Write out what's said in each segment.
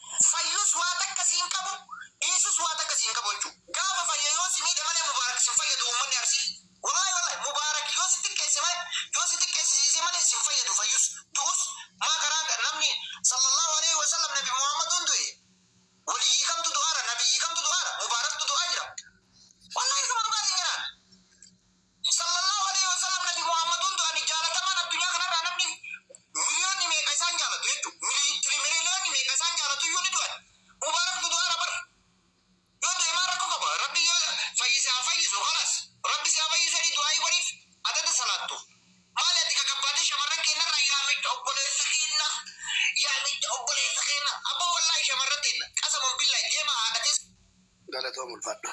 Fayyus waa takka si hin qabu dhiisus waa takka si hin qabu jechuu gaafa fayye yoo si miidhe malee mubaarak sin fayyadu uummanni arsii wallaahi wallaahi mubaarak yoo si xiqqeesse malee yoo si xiqqeessisiise malee sin fayyadu fayyus du'us maa garaan namni sallallaahu aleyhi wasallam nabi muhaammaduun du'e waliyyii kamtu du'aara nabiyyii kamtu du'aara mubaaraktu du'aa jira wallaahi isuma dhugaatiin jaraan. Sallallaahu aleyhi wa sallam Nabi Muhaammaduun du'ani jaalatamaan addunyaa kanarraa namni miliyoonni meeqa isaan jaalatu jechuu mili trimiriiliyoonni meeqa isaan jaalatuyyuu ni du'ani Mubaarak dudu'aadha bar yoo du'e maal rakko qaba Rabbi yoo fayyise haa fayyisu khalas Rabbi si haa fayyisu jedhii du'aa'ii godhiif adada salaattu maali ati gagabbaatee shamarran keennarraa yaa mitta obboleessa keenna yaa mitta obboleessa keenna abboo wallaahi shamarran teenna qasaman billaahi deemaa haadha teessan Galatoomi ulfaadhu.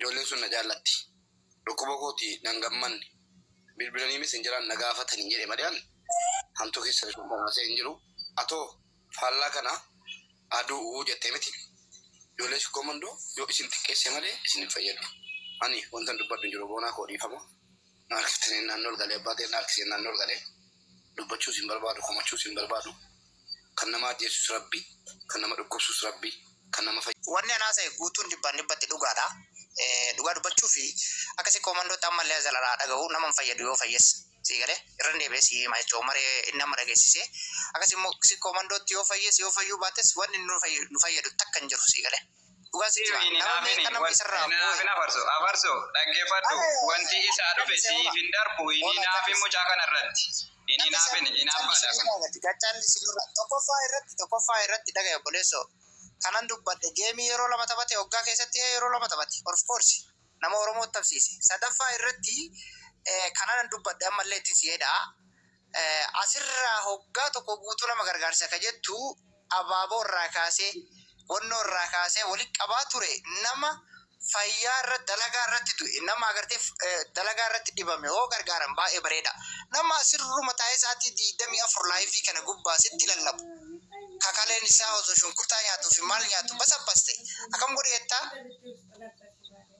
Ijoolleen sun na jaallatti. Dhukkuba kooti nan gammanne. Bilbilanii messengeraan na gaafatani jedhe malee an hamtuu keessa lixuun dhama'asee hin jiru. Atoo faallaa kana haa du'u jette miti. Ijoollee Sikkoo Mandoo yoo isin xiqqeesse malee isin hin fayyadu. Ani wantan dubbadhu hin jiru Boonaa koo dhiifama. Na harkifte neen naannoo ol galee abbaa kee na harkiseen naannoo ol galee dubbachuus hin barbaadu komachuus hin barbaadu kan nama ajjeesus rabbi kan nama dhukkubsus rabbi kan nama Wanni an haasa'e guutuun dhibbaan dhibbatti dhugaadha. Dhugaa dubbachuuf akkasii koomandootti ammallee Azal irraa haa dhagahuu nama hin fayyadu yoo fayyes. Sii galee? Irran deebi'ee sii hima jechuudha Umar inni amma dhageessisee. Akkasii immoo si koomandootti yoo fayyees yoo fayyuu baates wanni nu fayyadu takka hin jiru. Sii galee? Dhugaa sitti hima. Nama meeqa nama isarraa booye. Hinaafin afarso afarso dhaggefadhu wanti isaa dhufe siif hin darbu hin hinaafin mucaa kana irratti hin hinaafin hinaafaadha kun. Gaccaan isin irraa tokkoffaa irratti tokkoffaa irratti dhagahi obboleesso kanan dubbadhe geemii yeroo lama taphate waggaa keessatti hee yeroo lama taphate of course nama oromoo taphsiise sadaffaa irratti kanan dubbadhe ammallee ittin si jedha Asirraa hoggaa tokko guutuu nama gargaarsa ka jettu abaaboo irraa kaasee, wannoo irraa kaasee walitti qabaa ture nama fayyaa irratti, dalagaa irratti du'e, nama agartee dalagaa irratti dhibame hoo gargaaran baay'ee bareeda. Nama asirruma taa'ee sa'aatii 24 laayivii kana gubbaa sitti lallabu, ka kaleen isaa osoo shunkurtaa nyaatuu fi maal nyaatu basabbaste akkam godhi jettaa?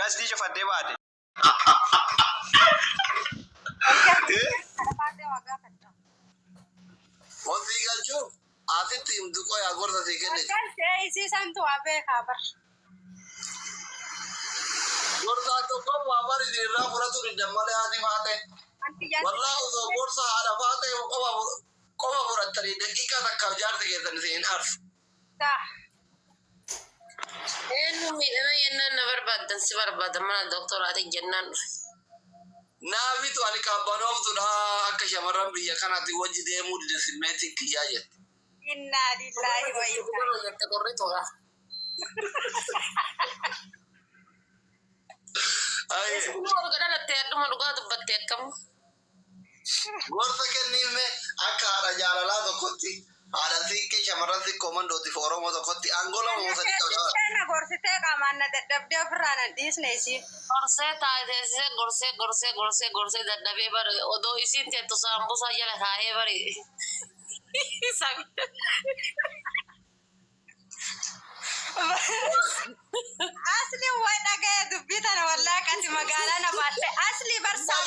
Gastii cufattee baate. Ofii galchuu asitti himtu qoy haa gorsa sii kenniti. Galtee isii santu waa beekaa bar. Gorsaa tokkoon waa bar isin irraa fudhatu diddan malee haati faate. Wallaa osoo gorsa haadha faate qofa fudhattanii daqiiqaa takkaaf jaarsi keessan isin hin aarsu. Eenyu miidhana yennaan na barbaaddan si barbaada mana dooktoraatiin jennaan dhufe. Naa mitu ani qabbanooftuudha akka shamarran biyya kanaatiin wajji deemuu dide simmeetiin kiyyaa jette. Innaa lillaahi wa innaa ilaihi. jette qorrituudha. Haye. Eessumaa erga dhalattee hadhuma dhugaa dubbatte akkam. Gorsa kenniif mee akka haadha jaalalaa tokkotti, haadha Siinqee shamarran Sikkoo Mandootii fi Oromoo tokkotti aangoo lama moo sadii qabda bara? Gorsitee na gorsitee qaamaan na dadhabdee ofirraa nan dhiisne isiin. Gorsee taasisee gorsee gorsee gorsee gorsee dadhabee bar odoo isiin teettu saambusaa jala kaa'ee bar. Asli waa dhagaya dubbii tana wallaa qati magaalaa na baatte asli barsaa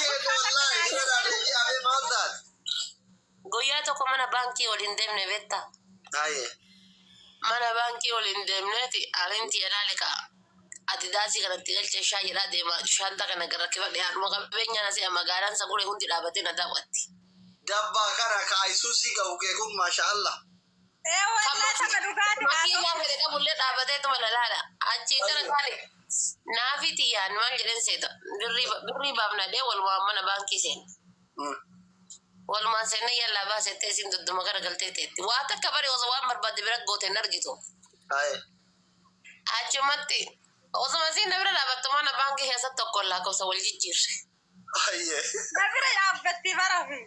Guyyaa tokko mana baankii ol hin deemne beektaa? Mana baankii ol hin deemneeti anin tiyya laale ka adidaasii kanatti galchee shaa jedhaa deema shaanta kana rakkifadhe haadhuma qabeenyaa na se'a magaalaan sagure hundi dhaabatee na daawwatti. Dabbaa kana ka Aysuusii gahu kee kun maasha Allah. Ee wallahi sama dhugaati haa Makiin ta'u. laafee qabullee dhaabatee tuma lalaadha. Achiin gara taali naafii xiyyaan maal jedheen seeta. Birrii baafnadhee walumaan mana baankii seena. Walumaan seennee yallaa baasettee isiin dudduma gara galtee teetti. Waa takka bari osoo waan barbaadde bira goote hin argitu. Achumatti osuma isiin na bira dhaabattu mana baankii keessatti tokkoon lakkoofsa wal jijjiirre. Ayyee. Na bira yaabbattii barafi.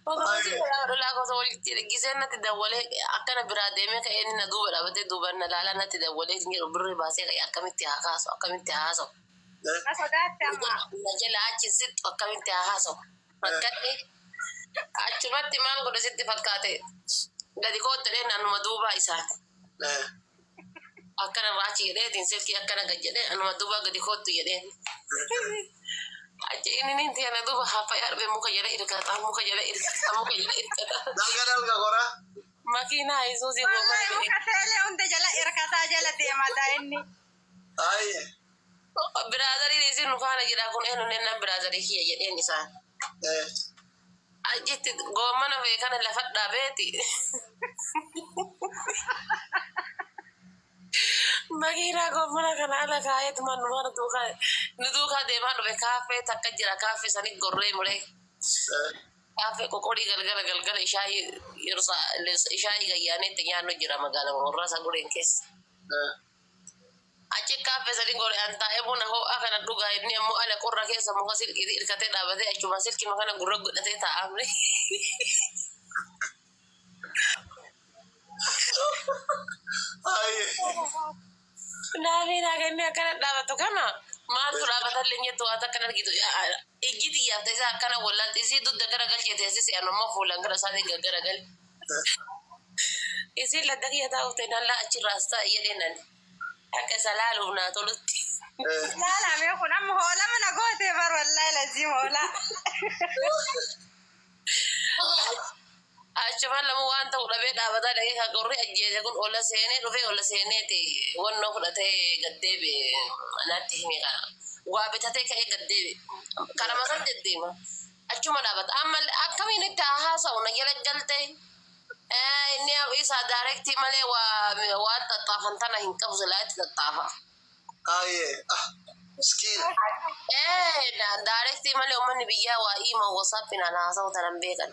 Obboleessi Ayyee. Adolaa gosa walitti giseen natti dawwalee akkana biraa deemee ka'ee inni na duuba dhaabatee duubaan na laalaa natti dawwalee hin jedhu birri baasee ka'ee akkamitti haa kaasu akkamitti haa haasa'u Na sodaatte amma. na jala achi hin sixxu akkamitti haa haasa'u rakkadhe achumatti maal godhe sitti fakkaate gadi koottadhee naannuma duubaa isaati. Eh. akkana raachi jedheetiin silkii akkana gad jedhee anuma duuba gadi koottu jedheen. Achi inni ninti ana duuba haffaya arbe muka jala irkata muka jala irkata muka jala irkata. Dalga dalga gora. Makiinaa Isuuzii koo Wallahi malee. muka seelee hunda jala irkataa jala deemata inni. Ayi. Biraadarii isin nu faana jira kun eenyu nennaan biraadarii kiyya jedheen isaan. Eh. Achitti goommana kee kana lafa dhabeeti makiinaa goommana kana ala kaa'eet man mana duukaa nu duukaa deemaa dhufe kaaffee takka jira kaaffee sanii gorree mulee kaaffee qoqolii galgala galgala ishaayii yersa ishaayii gayyaanee itti nyaannu jira magaalaa warraa sagureen keessa. Achi kaaffee sadin gore an taa'e buna hoo'aa kana dhugaa inni ammoo ala qorra keessa muka silkiiti irkatee dhaabate achumaan silkima kana gurra godhatee taa'a amle. Naafii naa kennee akkana dhaabatu kana maaltu dhaabatalle hin jettu waa takka hin argitu. Ijji xiyyaafta isaa akkana wallaalti isii dudda gara galchee teessise an ammoo fuulaan gara isaatiin gaggara gale. Isiin ladda kiyya taa'uuf ta'e nan laa achirraa as taa'i jedhee nan akka isa laaluuf naa tolutti. Laalaa mee kun amma hoola mana gootee bar wallaahi lazii hoola. Achumaan lamu waan ta'u dhabee dhaabataa dhaqee kan qorri ajjeese kun ola seenee dhufee ola seeneeti wannoo fudhatee gad deebi'e naatti hime kana. Waa bitatee ka'ee gad deebi'e. Karama san deddeema. Achuma dhaabata. Amma akkamiin itti haa haasa'u na jala galte. Eh, Inni isaa daarektii malee waa- waan xaxxaafan tana hin qabu silaa itti xaxxaafa. Aayee. Ah. Miskiina. Eh, da- daarektii malee uummanni biyyaa waa iima wasaappiin ana haasa'u tana hin beekan.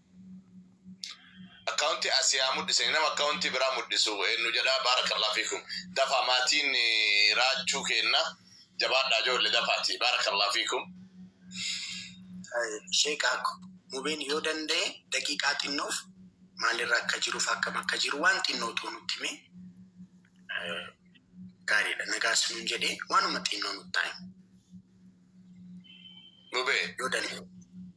Account asii haa mudhisani nama account biraa mudhisu eennu jedhaa baarakallah fiikum dafaa maatiin raachuu keenna jabaadhaa joolle dafaati baarakallah fiikum. Sheek Akko mubeen yoo danda'e daqiiqaa xinnoof maalirra akka jiruuf akkam akka jiru waan xinnoo too nutti hime gaariidha nagaas nuun jedhe waanuma xinnoo nutti haa himu Mubee yoo danda'e.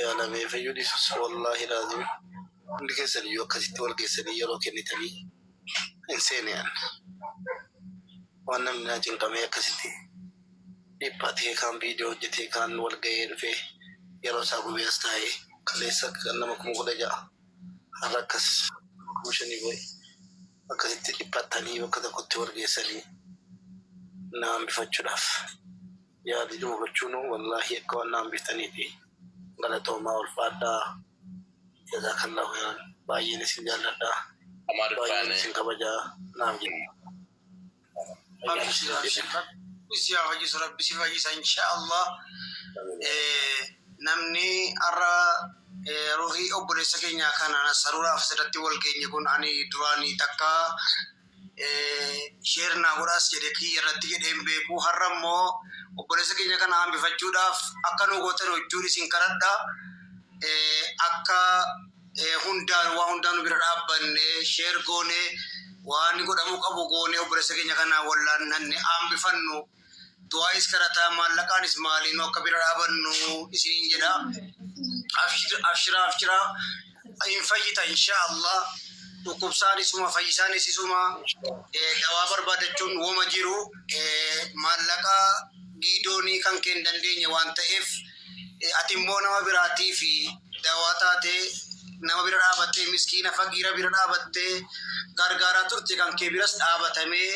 Yaa lamee fayyuu dhisus wallaahi laazim hundi keessan iyyuu akkasitti wal geessanii yeroo kennitanii hin seene an waan namni naa cinqamee akkasitti dhiphatee kaan viidiyoo hojjetee kaan wal ga'ee dhufee yeroo isaa gubee as taa'ee kaleessa kan nama kuma kudha ja'a har'a akkas kuma shanii boo'e akkasitti dhiphattanii bakka tokkotti wal geessanii na hambifachuudhaaf Yaada jiru hubachuunuu wallaahi akka waan na hambiftaniifi. Galatoomaa ulfaadhaa. Jazaakallaahu kheeyran. Baay'een isin jaalladha. Baay'een isin kabaja. Naaf jiraadhaa. Abshir abshir rabbi si haa fayyisu rabbi si fayyisa insha allah namni arra ruhi obbolessa kenya kana nasaruraf asirratti wal genye kun ani durani takka Share naa godhaas jedhe kiyya irratti jedhee hin beeku har'a immoo obboleessa keenya kana hambifachuudhaaf akka nuu gootan wajjuun isin kadhadha akka hundaan waa hundaa nu bira dhaabbanne share goone waan godhamuu qabu goone obboleessa keenya kana wallaannanne hambifannu. du'aayis kadhataa maallaqaanis maaliinuu akka bira dhaabannu isiniin jedha. Abshira abshira hin fayyita inshaa Allah. Dhukkubsaan isuma fayyisaan isisuma dawaa barbaadachuun woma jiru maallaqaa giidoonii kan kee hin dandeenye waan ta'eef ati immoo nama biraatii fi dawaa taatee nama bira dhaabattee miskiina fagiira bira dhaabattee gargaaraa turte kan kee biras dhaabatamee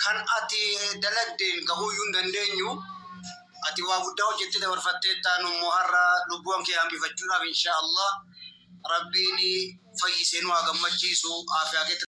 Kan ati dalagdeen gahuuyyuu hin dandeenyu. Ati waa guddaa hojjettee dabarfatteetta. Nu immoo har'a lubbuuan kee hambifachuudhaaf inshaa Allah Rabbiin fayyisee nu haa gammachiisu. Aafiyaa keetti.